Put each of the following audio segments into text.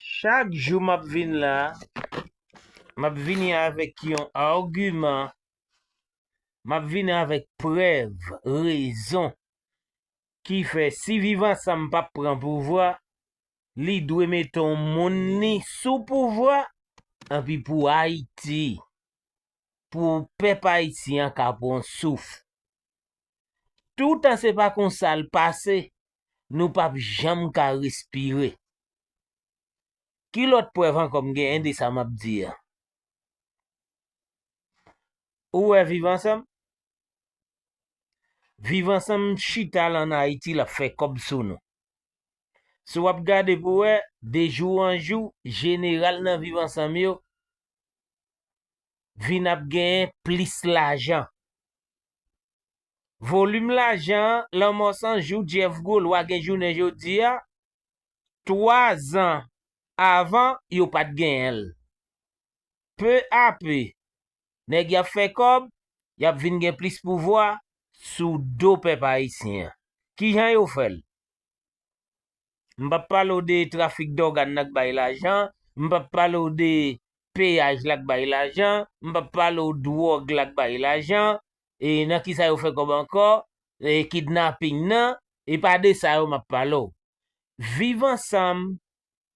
Chak jou map vin la map vini avèk yon arguman map vini avèk prèv rezon ki fè si viv ansanm pap pran pouvwa li dwe mete yon moun li sou pouvwa epi pou ayiti pou pèp ayisyen ka pran yon souf toutan se pa konsal pase nou pap janm ka respire. Ki lòt prèv ankò m genyen de sa m ap di a? Ou wè viv ansanm? Viv ansanm chita la an Ayiti l ap fè kòb sou nou. Si w ap gade pou w wè, de jou an jou, jeneral nan viv ansanm yo vin ap genyen plis lajan. Volim lajan Lanmò 100 jou Jeff Gwo Lwa gen jounen jodi a, 3 zan avan yo pat genyen l. Pe a pe, nèg y ap fè kòb, y ap vin gen plis pouvwa sou do pèp ayisyen an. Ki jan yo fè l? M p ap pale w de trafik dògàn nan k bay lajan, m p ap pale w de peyaj la k bay lajan, m p ap pale w dwòg la k bay lajan, e nan kisa yo fè kòb ankò e kidnaping nan e pa de sa yo map pale w viv ansanm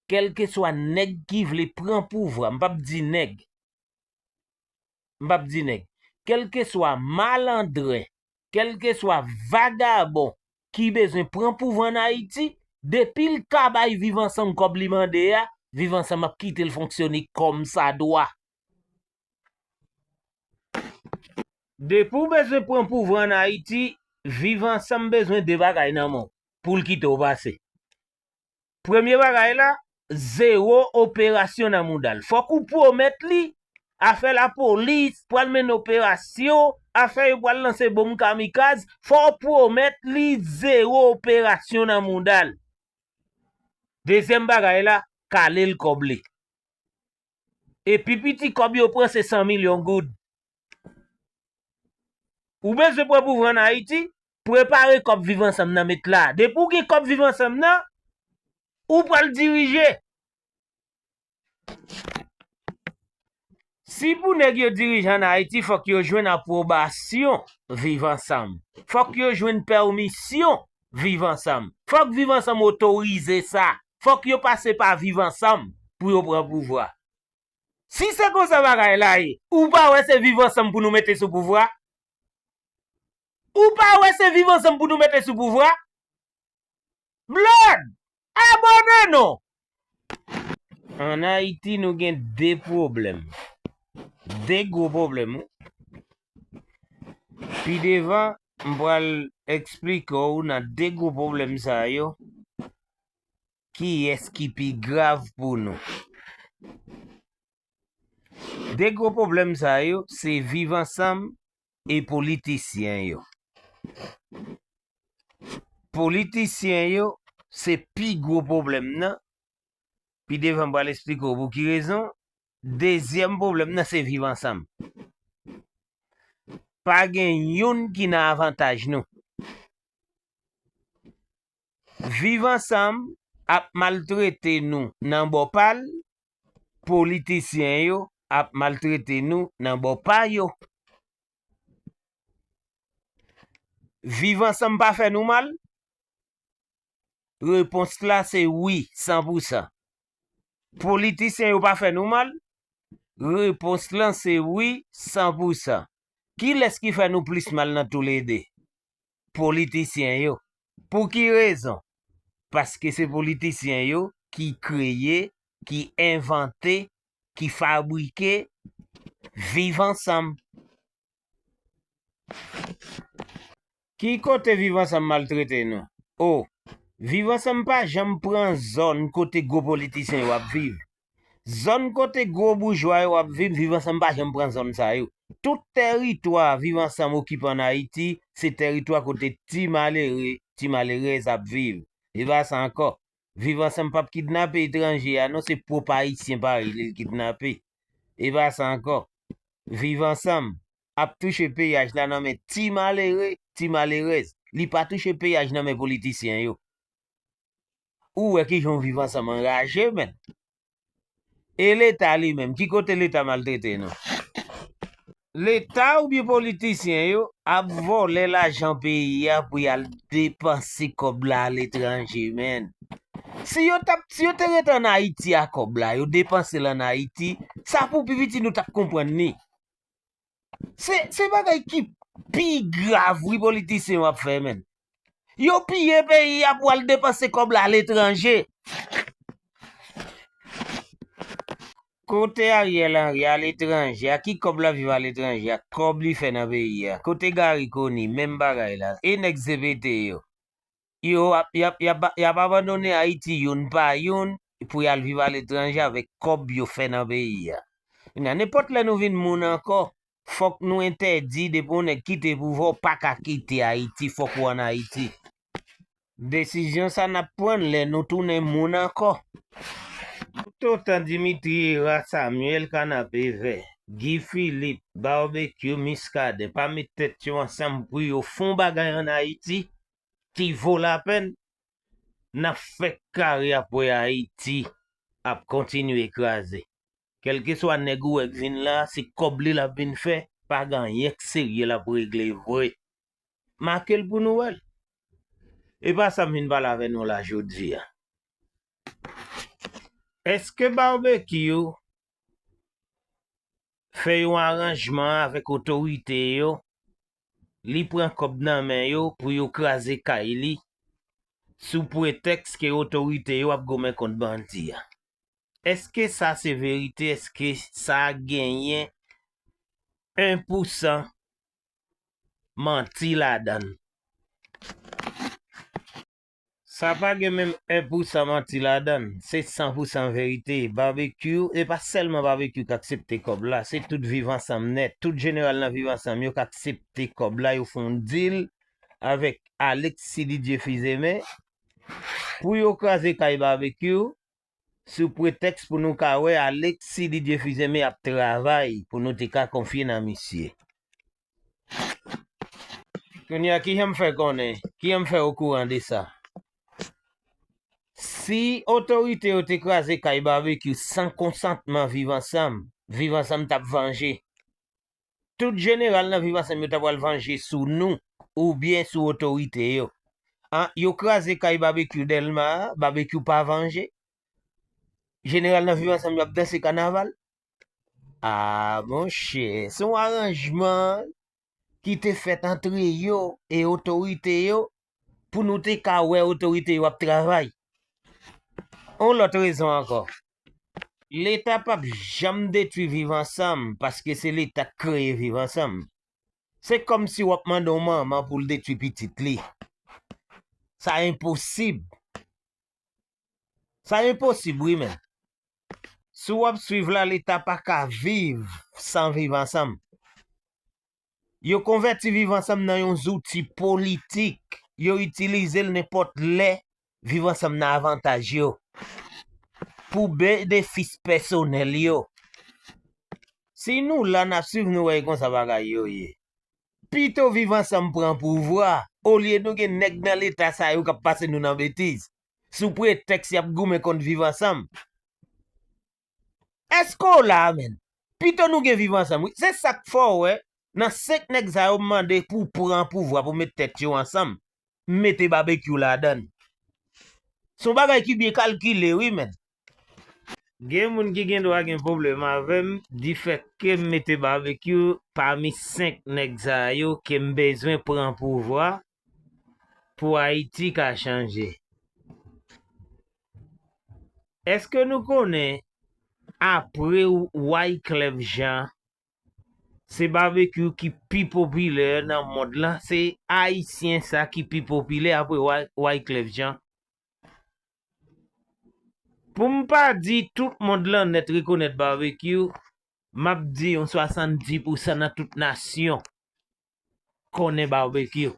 kèlkeswa nèg ki vle pran pouvwa m pap di nèg m pap di nèg kèlkeswa malandren kèlkeswa vagabon ki bezwen pran pouvwa an ayiti depi l ka bay viv ansanm kòb li mande a viv ansanm ap kite l fonksyone kòmsadwa Depi w bezwen pran pouvwa an Ayiti, Viv Ansanm bezwen de bagay nan men w pou l kite w pase. Premye bagay la, zewo operasyon nan mouda l. Fòk ou pwomèt li, afè lapolis pral mennen operasyon, afè yo pral lanse bonm kamikaz, fò w pwomèt li zewo operasyon nan mouda l. Dezyèm bagay la, kale l kòb li. E pi piti kòb yo pran se 100 milyon goud. Ou bezwen pran pou vann Ayiti? Prepare kòb Viv Ansanm nan met la. Depi ou gen kòb Viv Ansanm nan, ou pral dirije. Si pou nèg yo dirije an Ayiti, fòk yo jwenn apwobasyon Viv Ansanm. Fòk yo jwenn pèmisyon viv ansanm. Fòk viv ansanm otorize sa. Fòk yo pase pa viv ansanm pou yo pran pouvwa. Si se konsa bagay la ye, ou pa wè se viv ansanm pou nou mete sou pouvwa? Ou pa wè se viv ansanm pou nou mete sou pouvwa? Blòd! Abone non! An Ayiti nou gen 2 pwoblèm. 2 gwo pwoblèm wi. Pi devan, m pral eksplike w nan 2 gwo pwoblèm sa yo, kiyès ki pi grav pou nou. 2 gwo pwoblèm sa yo, se viv ansanm E politisyen yo? Politisyen yo se pi gwo pwoblèm nan, pi devan m pral esplike w pou ki rezon, dezyèm pwoblèm nan se viv ansanm. Pa gen youn ki nan avantaj nou. Viv ansanm ap maltrete nou nan bò pa l, politisyen yo ap maltrete nou nan bò pa yo. Viv ansanm pa fè nou mal? Repons la se wi san pou san. Politisyen yo pa fè nou mal? Repons lan se wi san pou san. Kilès ki fè nou plis mal nan toulede? politisyen yo. Pou ki rezon? Paske se politisyen yo ki kreye, ki envante, ki fabrike viv ansanm. Ki kote viv ansanm maltrete nou? O, viv ansanm pa janm pran zòn kote gwo politisyen yo ap viv. Zòn kote gwo boujwa yo ap viv, Viv Ansanm pa janm pran zòn sa yo. Tout tèritwa Viv Ansanm okipe ann Ayiti, se tèritwa kote ti malere, ti malerèz ap viv. E pa sa ankò. Viv Ansanm pap kidnape etranje a non, se pwòp Ayisyen parèy li l kidnape. E pa sa ankò. Viv Ansanm ap touche peyaj la nan men ti malere, ti malerèz. Li pa touche peyaj nan men politisyen yo. Ou wè ki jan viv ansanm anraje menn. E leta li menm, ki kote leta maltrete nou? Leta oubyen politisyen yo ap vòlè lajan peyi a pou y al depanse kòb la aletranje menn. Si yo t ap, si yo te ret an Ayiti a kòb la, yo depanse l an Ayiti, sa pou pi piti nou t ap konprann li. Se bagay ki pi grav wi politisyen yo ap fè men. Yo piye peyi a pou al depanse kòb la aletranje. Kote Ariel Henry aletranje a ki kòb lap viv aletranje a kòb li fè nan peyi a. Kote Garry Conille menm bagay la e nèg CPT yo. Yo ap abandone Ayiti youn pa youn pou y al viv aletranje avèk kòb yo fè nan peyi a. Kounye a, nenpòt lè nou vin moun ankò, fòk nou entèdi depi yon nèg kite pouvwa ou pa ka kite Ayiti, fòk ou ann Ayiti. Desizyon sa n ap pran l lè nou tounen moun ankò. Toutotan Dimitri Herard, Samuel Kanapevè, Guy Philippe, Barbecue, Muscadin pa met tèt yo ansanm pou yo fè yon bagay ann Ayiti, ki vo lapenn nap fè kare ap wè ayiti ap kontinye kraze kelkeswa nèg ou wè k vin la se kòb li lap vin fè pa gen anyen k serye lap regle vre makel pou nou wèl epa sam vin pale avè nou la jodia eske barbecue fè yon aranjman avèk otorite yo li pran kòb nan men yo pou yo kraze kay li sou pretèks ke otorite yo ap goumen kont bandi a. Eske sa se verite, eske sa genyen 1 pou 100 manti ladan l? Sa pa gen menm 1 pou 100 manti ladann, se 100 pou 100 verite, Barbecue, e pa sèlman Barbecue k aksepte kòb la, se tout viv ansanm nèt, tout jeneral nan viv ansanm yo k aksepte kòb la, yo fè yon dil avèk Alexis Didier Fils-Aimé pou yo kraze kay Barbecue, sou pretèks pou nou ka wè Alexis Didier Fils-Aimé ap travay pou nou te ka konfye nan misye. Kounye a, kijan m fè konnen, kijan m fè okouran de sa? Si otorite yo te kraze kay Barbecue san konsantman Viv Ansanm, Viv Ansanm t ap vanje. Tout jeneral nan Viv Ansanm yo ta pral vanje sou nou oubyen sou otorite yo. An, yo kraze kay Babekyou Dèlma a, Babekyou pa vanje? Jeneral nan Viv Ansanm yo ap danse kanaval? A, monchè, se yon aranjman ki te fèt antre yo e otorite yo pou nou te ka wè otorite yo ap travay. Yon lòt rezon ankò, Leta p ap janm detwi Viv ansanm paske se Leta k kreye Viv ansanm. Se kòmsi w ap mande yon manman pou l detwi pitit li. Sa enposib. Sa enposib wi menn. Si w ap suiv la, Leta pa ka viv san Viv ansanm. Yo konvèti Viv Ansanm nan yon zouti politik. Yo itilize l nenpòt lè Viv Ansanm nan avantaj yo, pou benefis pèsonèl yo. Si nou la, n ap swiv nou wè e konsa bagay yo ye. Pito Viv Ansanm pran pouvwa, olye nou gen nèg nan Leta sa yo k ap pase nou nan betiz, sou pretèks y ap goumen kont Viv Ansanm. Eske w la a menn? Pito nou gen viv ansanm wi. Se sak fè w wè nan 5 nèg sa yo m mande pou pran pouvwa pou met tèt yo ansanm, m mete Babekyou ladan l. Se yon bagay ki byen kalkile wi menn. Gen moun ki gen dwa gen pwoblèm avè m di fèt ke m mete Babekyou pami 5 nèg sa yo ke m bezwen pran pouvwa pou Ayiti ka chanje. Eske nou konnen apre Wyclef Jean se Barbecue ki pi popilè nan mond la, se Ayisyen sa ki pi popilè apre Wyclef Jean. Pou m pa di tout mond lan nèt rekonèt Barbecue, m ap di yon 70 pousan nan tout nasyon Kònen barbecue.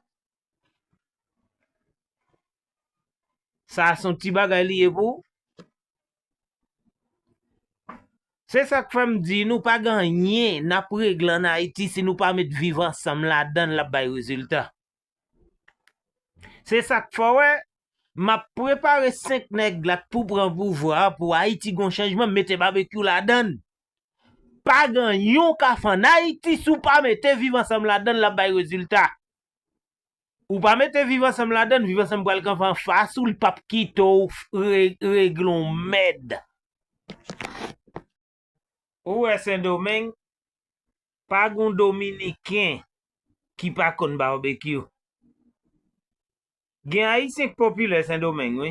Sa a son ti bagay li ye pou ou? Se sa k fè m di nou pa gen anyen n ap regle an Ayiti si nou pa met viv ansanm ladan l l ap bay rezilta. Se sa k fè w wè m ap prepare 5 nèg la k pou pran pouvwa a pou Ayiti gen yon chanjman mete barbecue ladan l. Pagan yon ka fè an Ayiti si w pa mete viv ansanm ladan l l ap bay rezilta. Ou pa mete viv ansanm ladan l, viv ansanm pral kanpe anfas ou, li p ap kite w regle yon mèd. Ou wè Sendomeng, pa gen yon dominiken ki pa konn barbecue. Gen ayisyen k popilè sendomeng wi.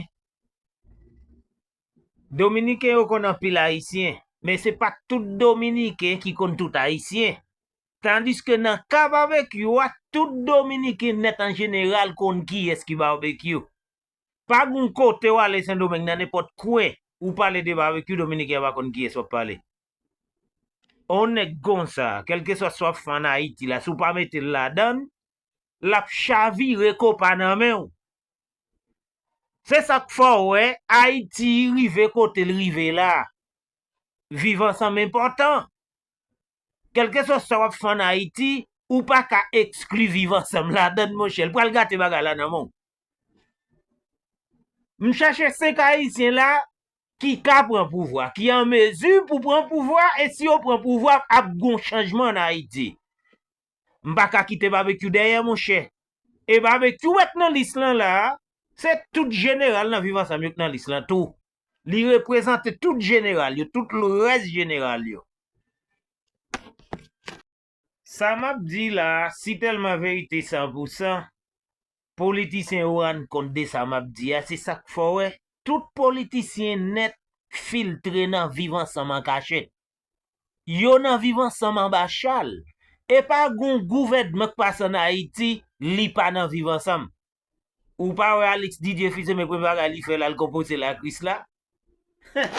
Dominiken yo konn anpil ayisyen, men se pa tout dominiken ki konn tout ayisyen. Tandiske nan ka babekyou a tout dominiken nèt an jeneral konn kiyès ki babekyou. Pa gon kote w ale sendomeng nan nenpòt kwen ou pale de babekyou dominiken an pa konn kiyès wap pale. On nèg konsa, kèlkeswa sa w ap fè an ayiti la si w pa mete l ladann, lap chavire konpa nan men w. Se sak fè w wè Ayiti rive kote l rive la. Viv ansanm enpòtan. Kèlkeswa sa wap fè an Ayiti, ou pa ka ekskli viv ansanm ladan l monchè. L pral gate bagay la nan men w. M chache 5 Ayisyen la ki ka pran pouvwa, ki an mezi pou pran pouvwa e si yo pran pouvwa ap gon chanjman an Ayiti. M pa ka kite Babekyou dèyè monchè. E Babekyou wè k nan lis lan la a, se tout jeneral nan Viv Ansanm yo k nan lis lan tou. Li reprezante tout jeneral yo, tout rès jeneral yo. Sa m ap di la a, si tèlman verite san pou san, politisyen yo rann kont de sa m ap di a, se sa k fè w wè tout politisyen nèt filtre nan Viv Ansanm an kachèt. yo nan viv ansanm anba chal epa gon gouvèdman k pase an ayiti li pa nan viv ansanm ou pa wè alix didye fils aime premye bagay li fè lal konpoze la krisla huh.